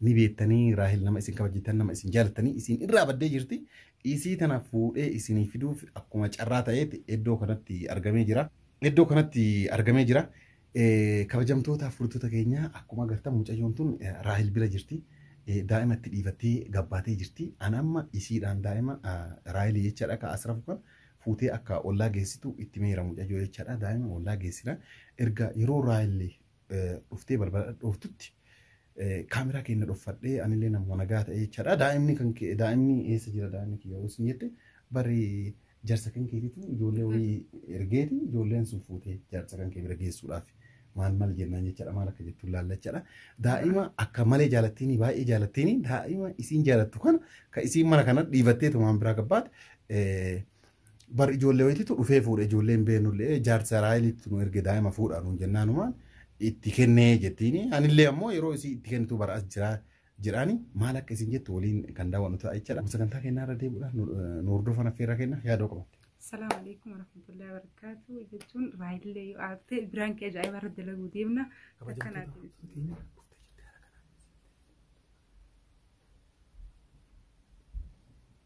ni beettanii Raahel nama isin kabajjitan nama isin jaalattanii isin irraa baddee jirti isii tana fuudhee isinii fiduuf akkuma carraa ta'eeti iddoo kanatti argamee jira iddoo kanatti argamee jira Eh, kabajamtoota furtoota keenya akkuma agartan mucayyoon tun eh, Raahel bira jirti Eh, daa'ima itti dhiifattee gabbaatee jirti ana amma isiidhaan daa'ima ah, Raahel jechaadha ka asrafu kan fuutee akka ollaa geessitu itti meera mucayyoo jechaadha daa'ima ollaa geessina erga yeroo Raahel dhuftee balbala dhooftutti kaameraa keenya dhoffadhee anillee nama nagaa ta'ee jechaadha. Daa'imni kan kee daa'imni eessa jira daa'imni kiyya yoo isin jette bari jarsa kan keetitu ijoollee wayii ergeeti ijoolleen sun fuutee jarsa kan kee bira geessuudhaaf maal maal jennaan jechaadha maal akka jettu ilaalla jechaadha. Daa'ima akka malee jaalattiini baay'ee jaalattiini daa'ima isiin jaalattu kana kan isiin mana kana dhiibattee tumaan biraa gabbaate Bar ijoollee wayitiitu dhufee fuudhe ijoollee hin beeknullee jaarsa Raaheliitti nu erge daa'ima fuudhaa nuun jennaanumaan itti kennee jettiini. Anillee ammoo yeroo isii itti kennitu bara as jira jedhaani maal akka isin jettu waliin kan daawwannu ta'a jechaadha. Sagantaa kennaa irra deebi'uudhaan nu nu hordofan affeerraa kenna yaadoo qabatte. Salaamu alaikum warahmatullahi wabarakatuh jechuun raayillee yoo aarte biraan kee ajaa'iba irra dalaguu deemna. Akkanaatiin.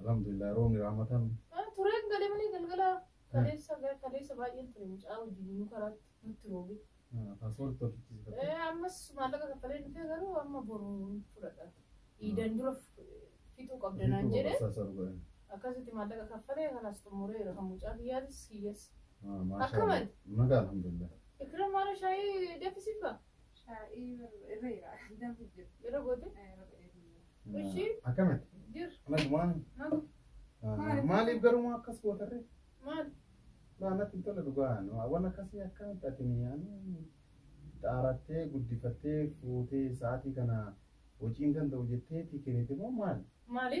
Alhamdulillah roobni rahmataa miti. Ah, Tureen galee malee galgala kaleessa kaleessa baay'een ture mucaa wajjin nu karaatti nutti roobe. Ah, Paaspoorti tolchiisifatte. Eh, Ammas maallaqa kaffalee dhufee garuu amma boru hin fudhadha. Iidan dura fixuu qabda naan Bituu jedhee boqosaa saru godhan. akkasitti maallaqa kaffalee kanaas xumureera kan mucaa kiyyaatis kiyyas. Ah, maashaa Akkamitti? Allah. Nagaa alhamdulillah. Ikram maala shaayii danfisiifaa? Shaa'ii irra jira. Danfi jira. Irra goote? Irra godhee jira. Ishi? Akkamati? Jir. Nagumaan. Nagu. Maaliif garuu maa akkas gootarre? Maal? Naa natti hin tola dhugaa. Waan akkasii akkamitti ati mi'aanii xaarattee guddifattee fuutee sa'aatii kana hojiin danda'u jetteeti kennite moo maal? Maali?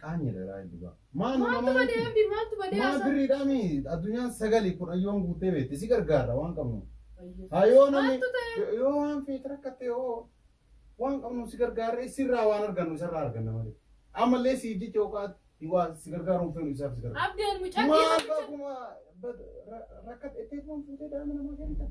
Qaanyii dha raayii dhugaa. Maal Maaltu nama badee miti? abdi maaltu badee Maal asa. birriidhaa mi addunyaan sagali kun ayyoon guutee beekti si gargaarra waan qabnu. Hayoo namni Maaltu ta'e? yoo waan feete rakkatte yoo waan qabnu si gargaarra isirraa waan argannu isarraa arganna malee. Ammallee siif jecha yookaan waa si gargaaruun feenu isaaf si gargaara. Abdi ani mucaa Maal kiyya- bakkuma rakkatte itti fuutee daa'ima namaa kennitan.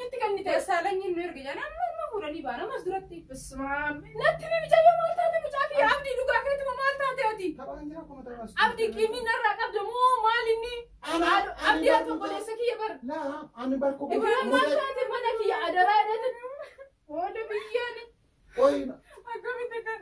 Natti kan ni ta'e. Dassaalanyiin nu erga jedhan amma amma fuudhanii baana ammas duratti. Bismaan. Natti ni mijayyoo maal taate mucaa kiyya abdii dhugaa keetuma maal taate ati. Taphaan jira kuma taphaa. Abdii qiimii narraa qabda moo maal inni? Ana- Abdii ani harka barumsa- obboleessa kiyya bara. Laa ani barko. Ibrahim maal taate mana kiyya adaraa jedhate. Booda biyyaan Qoyina. akkamitti kan.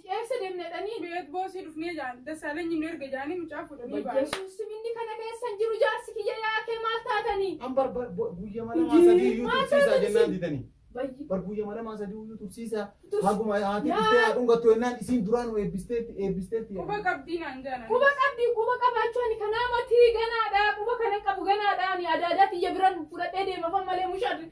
Eessa deemna jedhanii beet boosii dhufnee jaan Dassaalenyi nu erga jaanii mucaa fuudhanii ba'an. Yesuus minni kana keessa hin jiru jaarsi kiyya yaakee maal taatanii? An bar bar bar- guyya mala maa sadii iyyuu Maal tursiisaa taatanii jennaan isin? didanii. Bayyi. Bar guyya mala maa sadii iyyuu tursiisaa. Tursi- Haguma haati Yaa. dhuftee haa dhungattu jennaan isiin duraan nu eebbisteetti eebbisteetti. Quba qabdii naan jaan. Quba qabdi quba qabaachuu ani kanaa matii ganaadha quba kana qabu ganaadha ani adaadaa tiyya biran fudhadhee deemafan malee mushaadri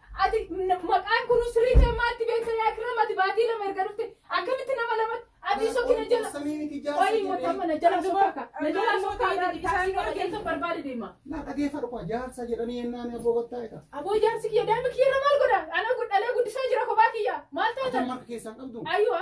Ati maqaan kun sirrii ta'e maatti beekta yaa kirram ati baatii lama erga dhufte akkamitti nama lamatti ati sokkina jala qoyii motamma na jala sokkaka na jala sokkaka taaksii qaba jechuun barbaade deema. Na dhageeffadhu koo jaarsa jedhanii yennaan abboo gottaa'e ta'a. Aboo jaarsi kiyya daa'ima kiyya irra maal godha ana dhalee guddisaa jira kophaa kiyya maal taatan. Akka keessaan qabdu. Ayyuwa.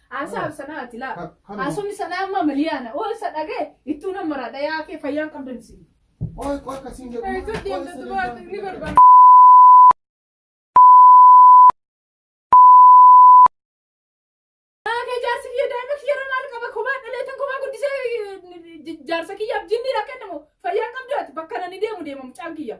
Haasaa sanaa ati laa. Ka- kanuma. Haasofni sanaa amma miliyaana. Oo isa dhagee ittuu nama maraadha yaa kee fayyaan qabdan isin. Qoy qoy kasiin jedhu. Ee, tun deemtu dubaatu ni barbaada. Yaa kee jaarsi kiyya daa'ima kiyya irra maal qaba kophaa dhaleetan kophaa guddisee eh, jaarsa kiyyaaf jinni dha kennamu fayyaan qabdu ati bakka nani deemu deema mucaan kiyya.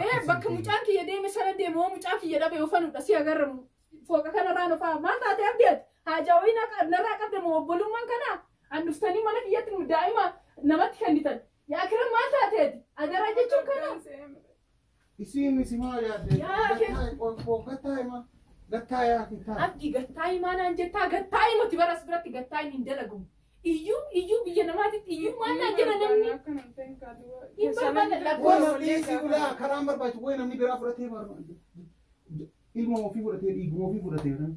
Ee bakka mucaan kiyya deeme sana deema oo mucaa kiyya dhabe ofanudha si agarramu. Fooqa kanarraa na fa'a. Maal taatee abdii ati? Haajaa wayii na- narraa qabda moo obbolummaan kanaa? An dhuftanii mana kiyyatti nu daa'ima namatti kennitan. Yaa kiran maal taatee ati? Adaraa jechuun kanaa? Isiin isi maa yaadde? Yaa kee- Gattaa- qoy- qoy- gattaa hima. Gattaa yaa kittaa. Abdii gattaa himaa naan jettaa gattaa himati bara as biratti gattaa hin hin dalagamu. Iyyuu iyyuu biyya namaatitti iyyuu maal naan jedha namni? Hin barbaanne lakkoofsa. Wayna dhiisi ulaa karaan barbaachisu wayi namni biraa fudhatee barbaadu. ilma ofii fudhatee dhiiguma ofii fudhatee kan.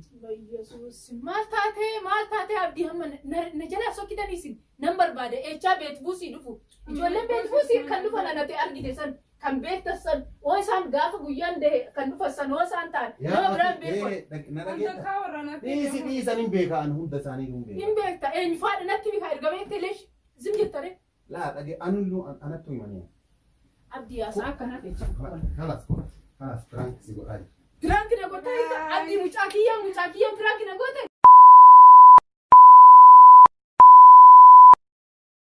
Yesuus maal taatee maal taatee abdii hamma na- na jalaa sokkitan isin nan barbaada eechaa beetbuusii dhufu ijoolleen beetbuusii kan dhufan anate argite san kan beektas san oo isaan gaafa guyyaan dahe kan dhufan san oo isaan ta'an nama biraan beekon na dhageetta. Takkaa warra natti Dhiisi jedhamu. dhiisan hin beekaan hunda isaanii hin hin beekaan. beekta eenyu faadha natti beekaa erga beekte leesh zim jettare Laa dhage anullu an- anattu himaniya. Abdi ya sa kana fe ci. Kalas kalas prank si godhaa jira. Prank na godha ita abdi mucaa kiyya mucaa kiyya prank na godha.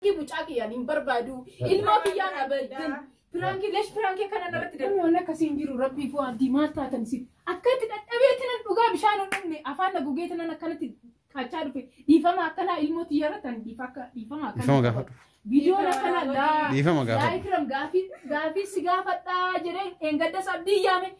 Ki mucaa kiyya nin barbaadu ilmoo kiyya na baddin. Prank lesh prank kana narratti darbu. Waan akkasii hin jiru rabbii foo abdi maal taatan si. Akkatti dadhabeetti nan dhugaa bishaan hodhanne afaan na gogeetti nan akkanatti qachaa dhufe dhiifama akkanaa ilmoo tiyya irratti ani dhiifa akka dhiifama akkanaa Dhiifama gaafadhu. viidiyoon akkanaa gaa Dhiifama gaafadhu. gaa ikram gaafii gaafii si gaafadhaa jedhee dheengadda sabdii yaame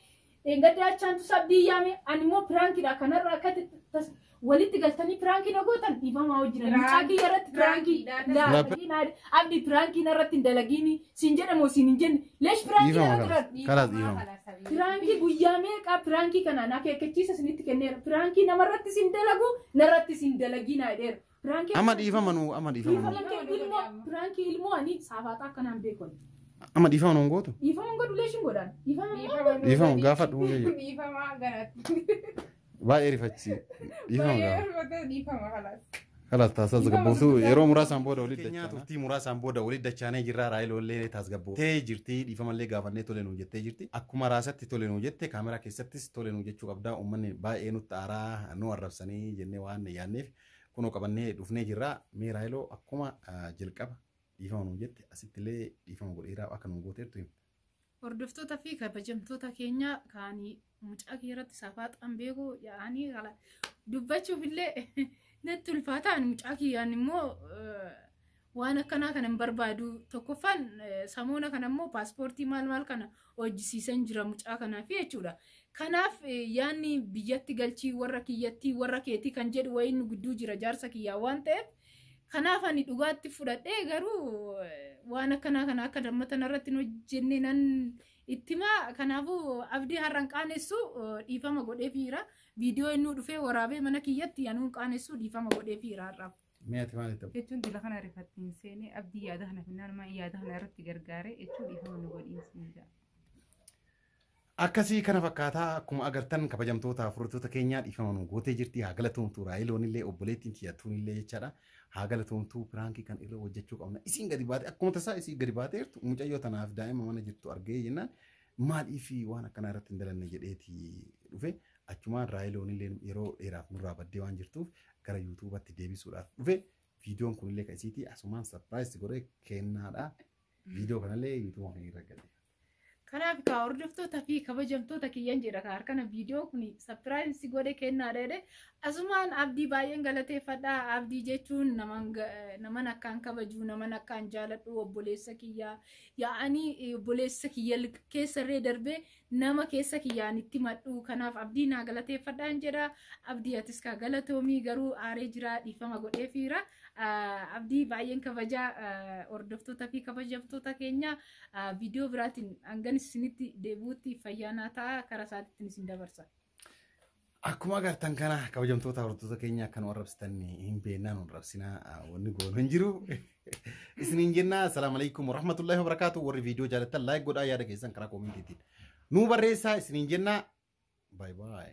dheengadda achaantu sabdii yaame ani immoo piraankidha kanarra akka t- tas- walitti galtanii piraankii na gootan dhiifamaa hojjina mucaa kiyya irratti piraankii Piraankii, laa- Laa- abdi piraankii narratti hin dalagiini Siin jedhe moo siin hin jenne? Leesh piraankii Dhiifama yeroo kanas. turan. Kanas dhiifama. Piraankii guyyaa meeqaa piraankii kanaan akeekkachiisa isinitti kenneera. Piraankii namarratti sin dalagu narratti sin dalaginaa jedheera. Piraankii Amma dhiifama nu amma dhiifama nu. Dhiifama kee ilmoo piraankii ilmoo ani saafaaxaa akkanaan beeku. ani. Amma dhiifama nu hin gootu. Dhiifama hin godhu leeshin godhaan. Dhiifama hin godhu. Dhiifama gaafadhu. Dhiifama ganatti. Baay'ee rifachi. Dhiifama gaafadha. Dhiifama kalaas. Kalaas taasaas gabbuusu yeroo muraasaan booda walitti dachaana. Turtii muraasaan booda walitti dachaanee jirra raayiloollee taasgabboo. Tee jirti dhiifamallee gaafannee tole nuu jettee jirti. Akkuma raasatti tole nuu jette kaameraa keessattis tole nuu jechuu qabdaa uummanni baay'ee nutti aaraa nu arrabsanii jennee waan yaadneef kunoo qabannee dhufnee jirra. Mee raayiloo akkuma jalqaba dhiifama nuu jette asittillee dhiifama godheeraa akka nuu gooteertu himte. Hordoftoota fi kabajamtoota keenya kaanii mucaa kee irratti safaaxaan beeku yaa'anii kala dubbachuuf illee natti ulfaataan mucaa kiyyaan immoo waan akkanaa kana hin barbaadu tokkoffaan samoona kana immoo paaspoortii maal maal kana hojjisiisan jira mucaa kanaaf jechuudha. Kanaaf yaanni biyyatti galchii warra kiyyattii warra keetii kan jedhu wayiin nu gidduu jira jaarsa kiyyaa waan ta'eef Kanaaf ani dhugaatti fudhadhee garuu waan akkanaa kana akka dammatan irratti hin hojjenne nan ittima. Kanaafuu abdii har'an qaanessu dhiifama godheefiira. Viidiyoo innuu dhufee waraabee mana kiyyatti anuun qaanessu dhiifama godheefiira har'aaf. Mee ati maal itti jechuun dila kana rifatti hin seene abdii yaada kana finnaan maa yaada kana irratti gargaare jechuun dhiifama nu godhiin siin jedha. Akkasii kana fakkaata akkuma agartan kabajamtoota furdattoota keenyaa dhiifama nu gootee jirti haa galatoomtu raayiloon illee obboleettiin tiyya tuun illee jechaadha haa galatoomtu piraankii kan irra hojjechuu qabna isiin gadi baate akkuma tasaa isii gadi baatee jirtu mucayyoo tanaaf daa'ima mana jirtu argee jennaan maaliif waan akkanaa irratti hin dalanne jedheeti dhufe achumaan raayiloon illee yeroo dheeraaf nurraa baddee waan jirtuuf gara yuutuubatti deebisuudhaaf dhufe viidiyoon kun illee kan isiitii asumaan sarpiraayis godhee kennaadha viidiyoo kanallee yuutuuba kan irra gadhiifna. Kanaaf kaa hordoftoota fi kabajamtoota kiyyan jedha kaa harkana viidiyoo kun sapiraayiz si godhe kennaa dheedhe asumaan abdii baay'een galateeffadha abdii jechuun naman ga- eh, naman akkaan kabajuu naman akkaan jaaladhu obboleessa kiyyaa yaa'anii eh, obboleessa kiyya l- keessarree darbee nama keessa kiyyaan itti madhu kanaaf abdii naa galateeffadhaan jedha abdii atis kaa galatoomii garuu aaree jiraa dhiifama godheefiira Ah, abdii baay'een kabajaa ah, hordoftoota fi kabajamtoota keenyaa Viidiyoo biraatiin hangan isinitti deebi'utti fayyaa naa ta'a karaa isaatiitiin isin dabarsa. Akkuma agartan kana kabajamtoota hordoftoota keenya akka nu arrabsitan hin beeknaa nu arrabsinaa wanni goonu hin jiru. Isiniin jenna assalaamu alaikum warahmatullahi wabarakaatu warri viidiyoo jaallattan laayik godhaa yaada keessan karaa koomintiitiin nu barreessaa isiniin jenna baay baay.